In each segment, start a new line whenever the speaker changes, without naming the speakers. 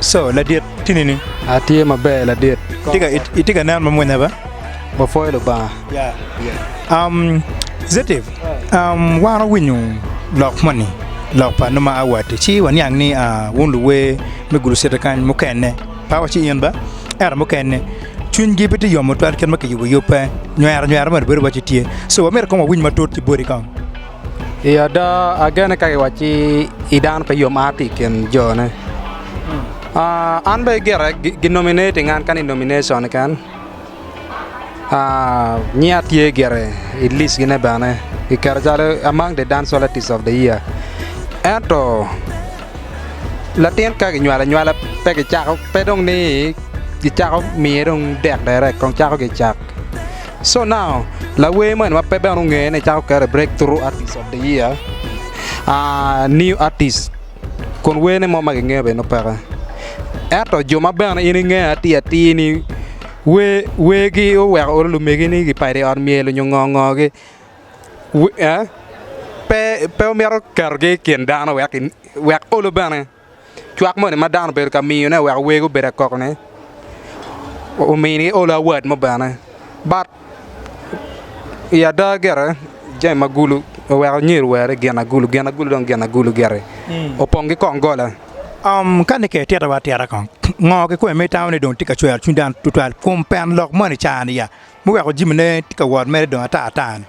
Coo, Ladit, tini ni? Atye maber,
Ladit. Itye ka nen
mamwonya be? Wapwoyo
Lubanga.
Zetiv, wan wawinyo lok moni, lok pa nongo ma awatti, ci waniang ni wun luwer me gurucete kany mukene pe waci in ba, ento mukene cwinygi pe tye yomo tutwal kit ma kiyubo yub pe, nywero nywero moni bedo waci tye. Coo, myero kong wawiny matut ki boti kong. I ada
agene ka kiwacci i dano pe yom a ki i kin jone. An bene gire gi nominating an kany i nomination keken, nyinga tye gire i list gine bene ki keta calo among the dance artist of the year ento latin ka kinywalo anywala pe kicako pe dong ni kicako miye dong dek dere kong cako ki i cak. So now, lawer mo eni ma pe bene ongeye ni cako kere break through artist of the year aah new artist kun werne mo ma kingeyo bene nongo peke ento jo ma bene in ingeyo atir atir ni wer wergi oweko lumegi ni gipadi i ot myel nyo ngo ngo gi wi eeh pe pe omito ketogi i kin dano wek olo bene. Cwak moni ma dano obedo ka miyone wek wego obed akok-ni, omini olo awat mo bene. Bat i ada gire jami ma gulu oweko anyer owere gin agulu, gin agulu dong gin agulu gire, opong ki kong gola. Ka ni
ke itito wa atita kong, ngo kikome ma itamo ni dong tye ka cwero cwiny dano tutwal kum pen lok moni i caa-ni? Muweko jimi ne tye ka wot mere dong ata ata ni.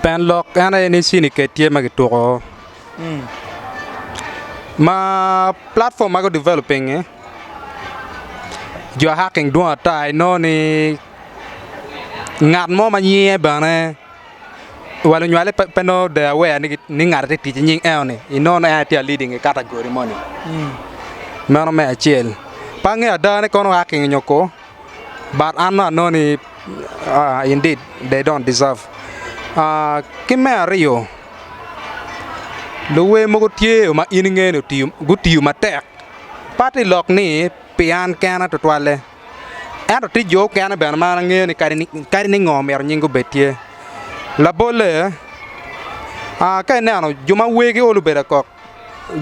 Pien
lok en aye ni cini ked tye ma kituko ma platform ma gu develop pingi jo hacking dwong ata inongo ni ngat mo ma nyinge bene wa lunywale pe nongo de aware ni ngate tye tic ki nying eno ni inongo ni en aye tye a leading i category moni meno me acel pe angeyo ada ni kono hacking onyo ko. but I know know ni indeed they don't deserve ki me aryo luwer mogo tye ma in inge ni gutiyo matek pe aye lok ni pi an kena tutwalle ento tye jo mukene bene ma angeyo ni kadi ni ngo myero nying gi obed tye, labolle ka ineno jo ma wergi olo bedo kok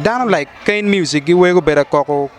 dano like kain music giwero bedo koko.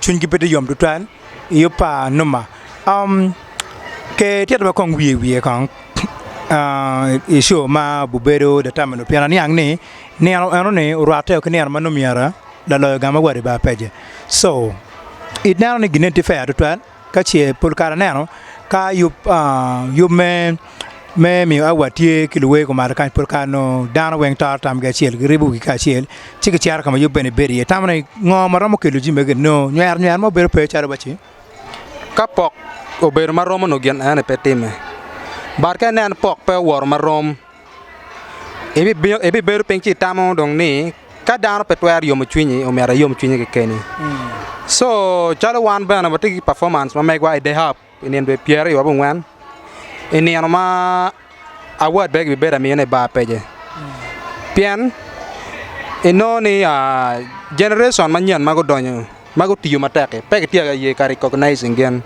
cwinygi pe tye yom tutwal i yo pa numa. Um, ke tito ma kong wiye wiye kong ah, i show ma bubedo The Time Eno pien aniang ni nino enoni orwatte ki nino ma nongo myero laloyo gang ma wadi ba pece. So, ineno ni gineni tye fair tutwal? Ka ce pol kare aneno ka yub yub me me miyo awa tye ki luwer kumalo kany pol kare onongo dano weng toro tamgi acel giribo wigi kacel ci gicito ka ma yub bene bedo iye, itamo ni ngo ma romo kelo jami magi enoni nongo nywero nywero mo bedo pe calo wa ci? Ka pok
obedo ma romo onongo gin enoni pe timme but ka inen pok pe owoto ma rom Ibibedo piny ci itamo dong ni ka dano pe twero yomo cwinyi myero iyom cwinyi kekeni. Co calo wan bene watye ki pafomance ma megwa i Dayhab i nino dwe pyeraryo wa bungwen, i nino ma awat bene kibibedo amine i bar pece pien inongo ni jenerecon manyen ma gudonyo ma gutiyo matek-ki pe kitye ka ye ka recognising gin.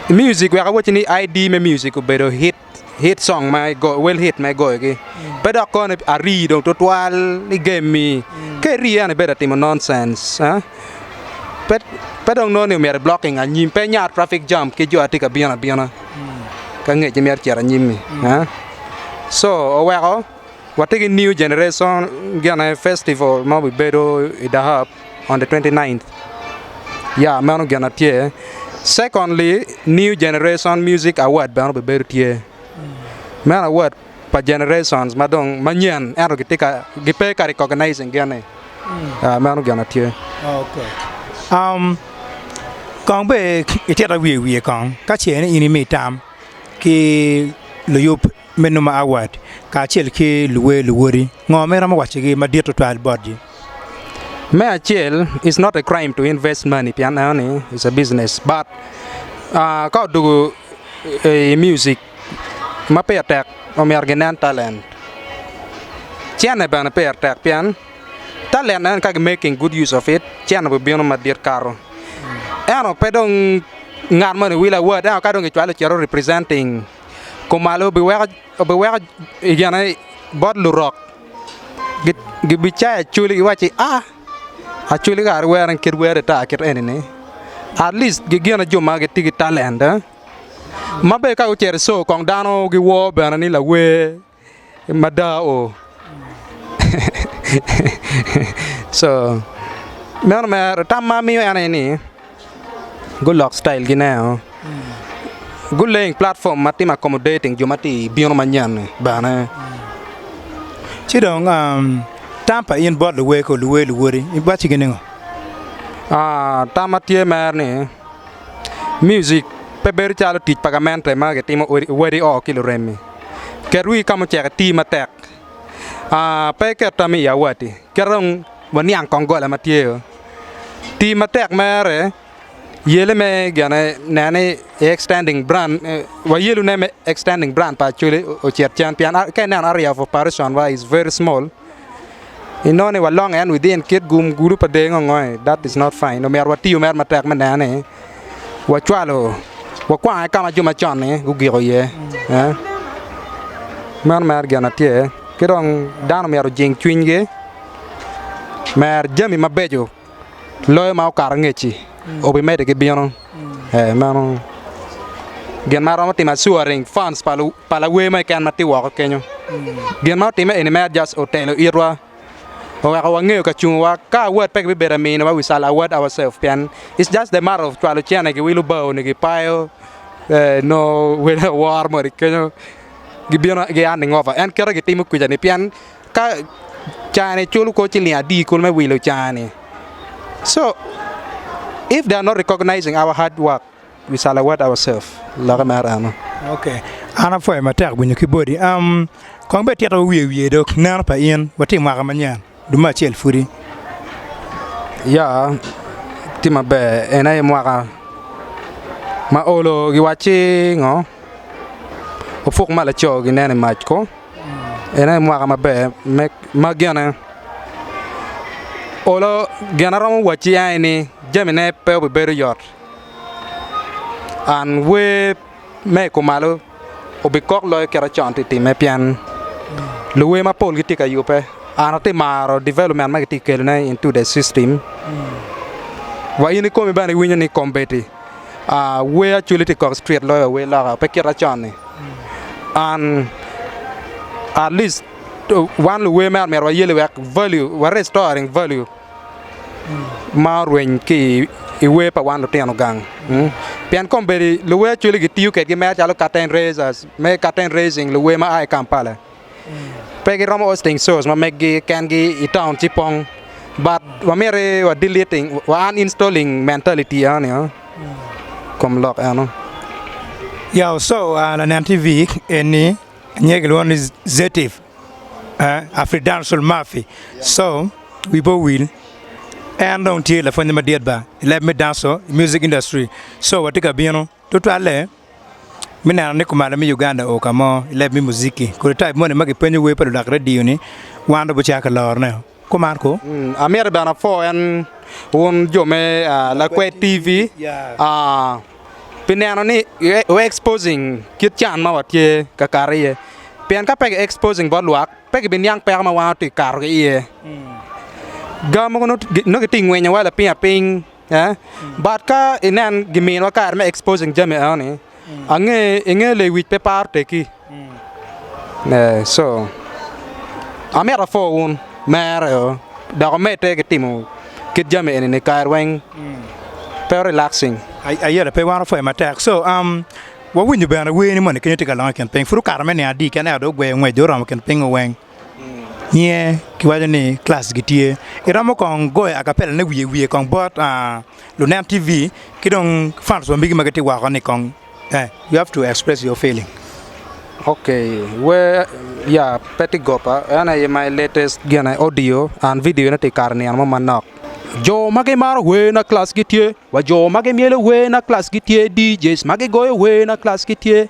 Muiucik wek awacci ni ID me muiucik obedo hit hit cong ma igoyo wel hit ma igoyogi pe dok kono ari dong tutwal i gem-mi ka iri eno ibedo ka timo noncenc pe pe dong nongo ni myero iblokking anyim pe inyar trafik jam ki jo ma tye ka bino abina ki angecci ma icito anyim-mi co oweko watye ki new generation gine festival ma bibedo i dahab. on the 29th yeah meno gin na tye secondly new generation music award bene obibedo tye meno award pa generations ma dong manyen ento gitye ka gipe ka recognizing gin-ni yeah meno gin na tye.
Kong bene itita wiye wiye kong ka ce ni in imi tam ki luyub me numa Awad kacel ki luwer luwoti ngo ma iromo wacigi madit tutwal botgi? Me
acel it's not a crime to invest money pien aneno ni it's a business but aa ka odwogo i music ma pire tek omyero ginen talent, cene bene pire tek pien talent aneno ni ka gi making good use of it cene bibino madit kato ento pe dong ngat moni Will Awad ento ka dong kicwalo cito representing. kumalo obiweko bot lurok gibicayo acholi giwaco ni aa acholi kara iwero kit wer ata kit eni ni atlic gigine jo ma gitye ki talent ma bene ka gucito i coo kong dano giwor bene ni lawer. Mada o. Co. Meno mere, tam ma amiyo en aye ni, gulok style gi ne o. Guleng platform ma timo accommodating jo ma ti bino manyen ni bene.
Ci dong um, tam pa in bot luweko, luwe, luwodi, iwacci gi ningo? Ah, tam ma
tye mere ni, Music pe bedo calo tic pa gamente ma gitimo wadi oo ki luremmi. Ket wii ka mucek iti matek pe iket tam i awatti ket dong waniang kong gola ma tye oo. Ti matek mere yele me gene nen ni i extending brand wayelune me extending brand pa Acholi ocit cen pien ka ineno area of operation wa is very small. Inongo ni walonge and within kit gum gudo pa dee ngongoe, that is not fine. Omyero watiyo mere matek me neno ni wacwalo, wakwange ka ma jo macon-ni gugiko iye. eh. Meno mere gin ma tye. Ki dong dano myero ojing cwinygi, mer jami mabeco. loyo ma okato ngec-ci obimedde ki bino. Ee meno gin ma romo timo assuring funds pa lawer ma keken ma tye woko kenyo. Gin ma otimme eni mere just otelo itwa, oweko wangeyo ka cunguwa. Ka award pe kibibedo ka miniwa we shall award ourselves pien it's just the matter of cwalo cene giwilo bao-ni gipayo ee nongo wele awor moni kenyo gibino gihanding over en kite gitimo kwija-ni pien ka caa-ni culo kor ciling adi kulu me wilo caa-ni so if they are not recognizing our hard work we shall award ourself lokke mere eno. Ok
an apwoyo matek winyo ki bodi kong bed tito wiye wiye dok neno pa in watye i mwaka manyen dong me acel pwodi.
Ya tye maber en aye mwaka ma olo giwacci ngo opuk ma laco ginen i mac ko. En aye mwaka maber ma gene olo gin ma aromo wacci aye ni jamine pe obibedo yot and wer me i kumalo obikok loyo kit ma con tye ka timme pien luwer mapol gitye ka yubbe and atye ka maro development ma kitye ka kelone into the system wa in ikomi bene iwinyo ni kombeddi. Wer acwali tye kok street loyo wer loka pe kit ma con ni and at least wan luwer mere myero wayelle wek value wa restoring value ma orweny ki i wer pa wan lutino gang pien kombeddi luwer acwali gitiyo kwedgi mere calo curtain raisers me curtain raising luwer ma aa ki Kampala. pe giromo Hosting source ma meggi ken gi i town ci pong but wa myero ni wa deleting wa uninstalling mentality enoni o kom lok eno.
Yeah so lanen TV eni nyinge kilwongo ni Zetif Afridansul Mafi so wi pe owil en dong tye lapwonye madit ba i leb me danco music industry so watye ka bino tutwalle. me neno ni kumalo me Uganda oo kamo i leb me muziki kodi type moni ma kipenyo wer pa ludak radio ni wan dong bucako ki lorone oo ko man ko. Amyero bene apwo
en wun jo me lakwe TV pi neno ni wu exposing kit can ma watye ka kato iye pien ka pe ki exposing bot lwak pe ki bi niang peko ma wan watye ka kato ki iye, gar mogo nongo gitye ka ngwinyo wa lapiny lapiny. But ka inen giminiwa kare me exposing jami enoni, ange inge lewic pe paro tekki. So amito apor wun mere o dok omedde ki timo kit jami enini kare weng
pe relaxing.
Aye
pe wan wapwoyo
matek
so wawinyo bene wer ni moni kenyo tye ka lokke i kin piny pud okato me niang adi kene ento dong ogweyo ngwec dong oromo kin piny weng. Nyiye giwaco ni klass gitye iromo kong goyo akapela ne wiye wiye kong bot lunen TV ki dong fans wa magi ma gitye woko ni kong you have to express your feeling. Ok
wer ya pe tye goba en aye my latest gine audio and video ne tye ikato nino mo manok. Jo ma gimaro wer na klass gitye wa jo ma gimyelo wer na klass gitye DJs ma gigoyo wer na klass gitye.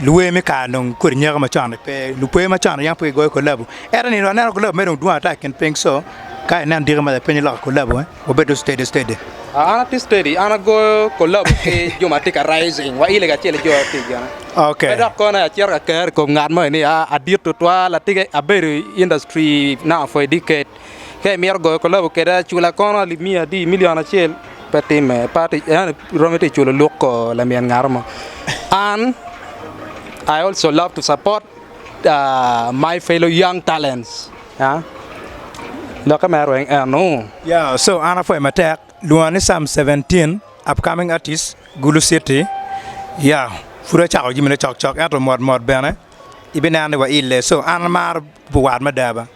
Luwer me kare dong kodi nyaka macon ni pe, lukwer macon yam pe gigoyo kolabu. Ento nino aneno kolabu mere dong dwong ata i kin piny so ka inen diki ma lapeny iloko kolabu eh, wabed dong steady steady. An atye steady,
an agoyo kolabu ki jo ma tye ka rising wa ile kacel ki jo ma pi gine. Okay. Pe dok kono
acito ka
ker i kom ngat moni ni ah adit tutwal, atika abedo i industry now for a decade. Ka imito goyo kolabo kede acula kono alip miya adi milion acel pe timme pa tic yani iromo ite culo luk ko lamyel ngato mo an I also love to support uh, my fellow young talents huh? lokke me arweng eno Yeah, so an
apwoyo matek. Lwonga ni Sam 17, upcoming artist, Gulu City. Yeah, pud acako jami ne cok cok ento mot mot bene ibineno ni waile. So an amaro buwat mada ba.